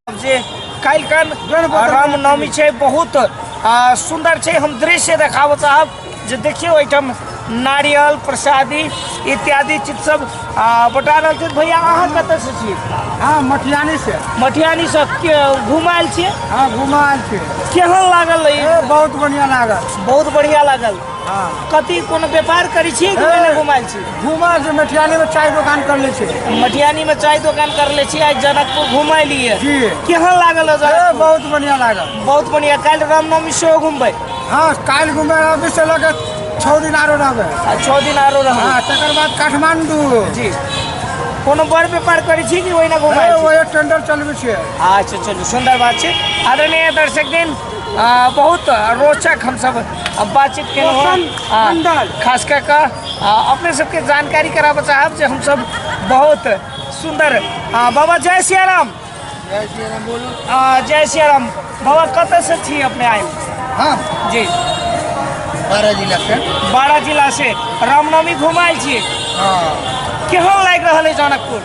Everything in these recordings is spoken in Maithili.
जे काल्हिखन रामनवमी छै बहुत सुन्दर छै हम दृश्य देखाबऽ चाहब जे देखियौ एहिठाम नारियल प्रसादी इत्यादि चीज सब बटा रहल छै भैया अहाँ कतऽ से छी हाँ मटियानी से मटियानी से घुमायल छियै हाँ घुमायल छियै केहन लागल बहुत बढ़िया लागल बहुत बढ़िया लागल कथी कोनो व्यापार करै छियै कि ओहिना घुमाएल छी घुमा से मटियानी में चाय दुकान कर ले छे मटियानी में चाय दुकान कर ले छी आइ जनकपुर घुमा लिए जी। केहन लागल है ए, जनकपुर बहुत बढ़िया लागल बहुत बढ़िया काल्हि रामनवमी सेहो घुमबै हाँ काल घूमे अभी से लगे छः दिन आरो रहबे आ छओ दिन आरो रहबै हाँ तकर बाद काठमांडू जी कोनो बड़ व्यापार करै छी कि ओहिना ए, घुमाएल छी वही टेंडर चलबे छे अच्छा चलू सुंदर बात छै आदरणीय दर्शक दिन आ, बहुत रोचक हमसब बातचीत केलहुँ हँ। आ, खास कऽ कऽ आ, अपने सबके जानकारी कराबऽ चाहब जे हमसब बहुत सुंदर आ, बाबा जय सिया राम आ, जय सिया राम बाबा कतऽ से छी अपने आयल हाँ जी बारह जिला से बारह जिला से रामनवमी घुमायल छी हाँ केहन लागि रहल है जनकपुर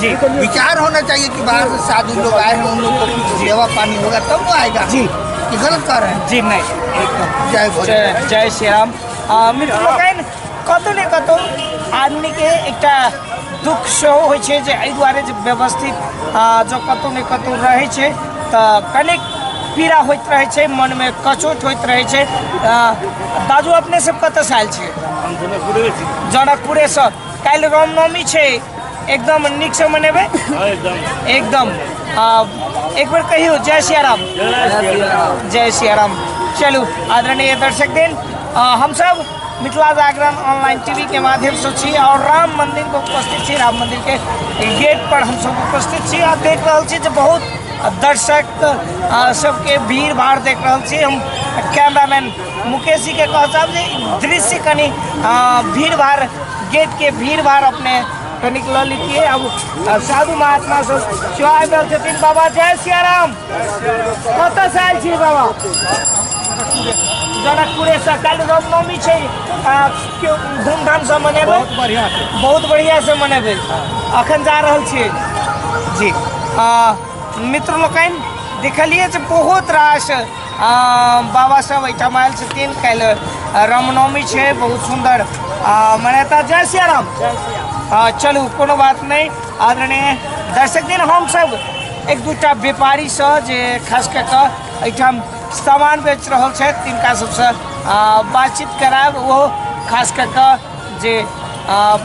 जी विचार होना चाहिए कि बाहर से साधु लोग आए हैं उन लोग को कुछ सेवा पानी होगा तब वो आएगा जी कि गलत कर रहे हैं जी नहीं एकदम जय भोले जय जय श्री राम आ, मित्र लोकनि कतहु ने कतहु आदमीके एकटा दुख सेहो होइ छै जे एहि दुआरे जे व्यवस्थित आ, जँ कतहु ने कतहु रहै छै तऽ कनेक पीड़ा होइत रहै छै मनमे कचोट होइत रहै छै आ, दाजू अपने सब कतऽसँ आयल छी हम जनकपुरे से काल्हि रामनवमी छै एकदम नीक से मनेबै एकदम आ, एक बेर कहियो जय सिया राम जय सिया राम चलू आदरणीय दर्शक दिन आ, हम सब मिथिला जागरण ऑनलाइन टीवी के माध्यम से छी और राम मंदिर को उपस्थित छी राम मंदिर के गेट पर हम सब उपस्थित छी आ देख रहल छी जे बहुत दर्शक आ, सबके भीड़ भाड़ देख रहल छी हम कैमरामैन मुकेश जी के कह साहब जे दृश्य कनी अ, भीड़ भाड़ गेट के भीड़ भाड़ अपने कनिक लऽ लितिए अब अब साधु महात्मा सब सेवा आबि रहल छथिन बाबा जय सियाराम कतऽ से आयल छी बाबा जनकपुरे से काल्हि रामनवमी छै आ, केओ धूमधाम से मनेबै बढ़िया छै बहुत बढ़िया से मनेबै अखन जा रहल छियै जी आ, मित्र लोकनि देखलियै जे बहुत रास बाबा सब एहिठाम आयल छथिन काल्हि रामनवमी छै बहुत सुन्दर मनाता जय सिया राम चलू कोनो बात नहि आदरणीय दर्शक दिन हमसब एक दूटा व्यापारी से जे खास कऽ कऽ एहिठाम सामान बेच रहल छथि तिनका सबसँ बातचीत करायब ओहो खास कऽ कऽ जे आ,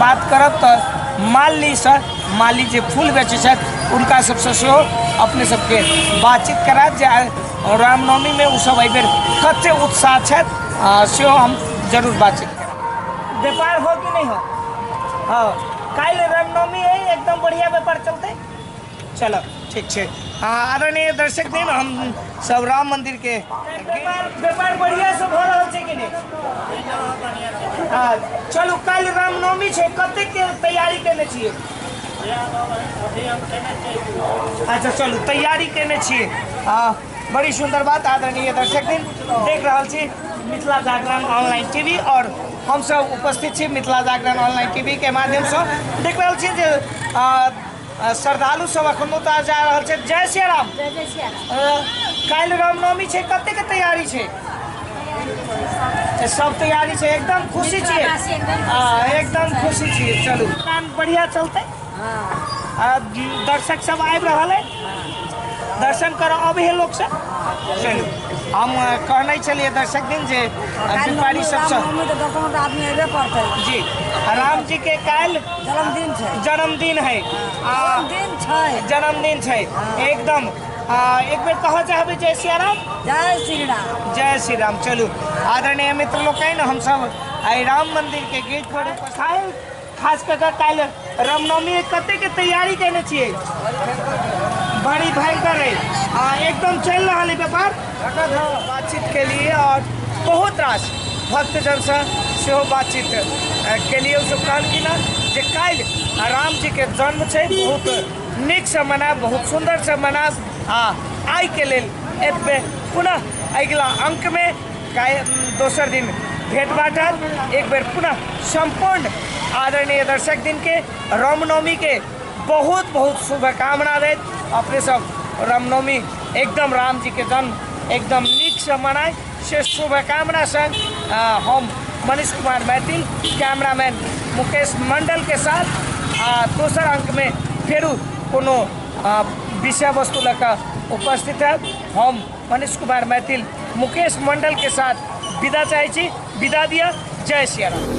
बात करब तऽ माली से माली जे फूल बेचै छथि उनका सबसँ सेहो अपने सबके बातचीत करायब जे आइ रामनवमीमे ओसभ एहिबेर कते उत्साह छथि आ, सेहो हम जरूर बातचीत करब व्यापार हो कि नहीं हो हाँ काल्हि रामनवमी है एकदम बढ़िया व्यापार चलते चल ठीक छै आ आदरणीय दर्शक दिन हम सब राम मंदिर के व्यापार बढ़िया से भऽ रहल छै कि नहि आ चलू काल्हि रामनवमी छै कते के तैयारी केने छियै अच्छा चलू तैयारी केने छियै आ बड़ी सुंदर बात आदरणीय दर्शक दिन देख रहल छी मिथिला जागरण ऑनलाइन टीवी और हम सब उपस्थित छी मिथिला जागरण ऑनलाइन टीवी के माध्यम से देख रहल छी जे आ, श्रद्धालु सब अखनो तऽ जा रहल छै जय श्री राम काल्हि रामनवमी छै कते के तैयारी छै सब तैयारी छै एकदम खुशी छियै हाँ, एकदम खुशी छियै चलू काम बढ़िया चलते हाँ। दर्शक सब आबि रहल है दर्शन करऽ अबै है लोक सब चलू हम अ, कहने छलियै दर्शक दिन जे अ, व्यापारी सबसँ मम्मी के दोकान पर आदमी अयबे करतै जी राम जी के काल्हि जन्मदिन छै जन्मदिन है आ जन्मदिन छै जन्मदिन छै एकदम आ, एक बेर कहऽ चाहबै जय सिया राम जय श्री राम जय श्री राम चलू आदरणीय मित्र लोकनि हमसभ आइ राम मंदिर के गेट पर उपस्थित खास कऽ कऽ काल्हि रामनवमी कतेकके तैयारी कयने छियै बड़ी भयंकर है आ एकदम चलि रहल है व्यापार बातचीत के लिए और बहुत रास भक्तजन से सेहो बातचीत अ, केलियै सब कहलखिन हँ जे काल्हि राम जी के जन्म छै बहुत नीक से मनायब बहुत सुंदर से मनायब आ आइ के लेल एतबे पुनः अगिला अंक में काय दोसर दिन भेट बाटल एक बेर पुनः सम्पूर्ण आदरणीय दर्शक दिन के रामनवमी के बहुत बहुत शुभकामना दैत अपने सब रामनवमी एकदम राम जी के जन्म एकदम नीक से मनाए से शुभकामना संग अ, हम मनीष कुमार मैथिल कैमरामैन मुकेश मंडल के साथ आ दोसर अंक में फेरू कोनो अ, विषय वस्तु लऽ कऽ उपस्थित है हम मनीष कुमार मैथिल मुकेश मंडल के साथ विदा चाहे छी विदा दिया जय सिया राम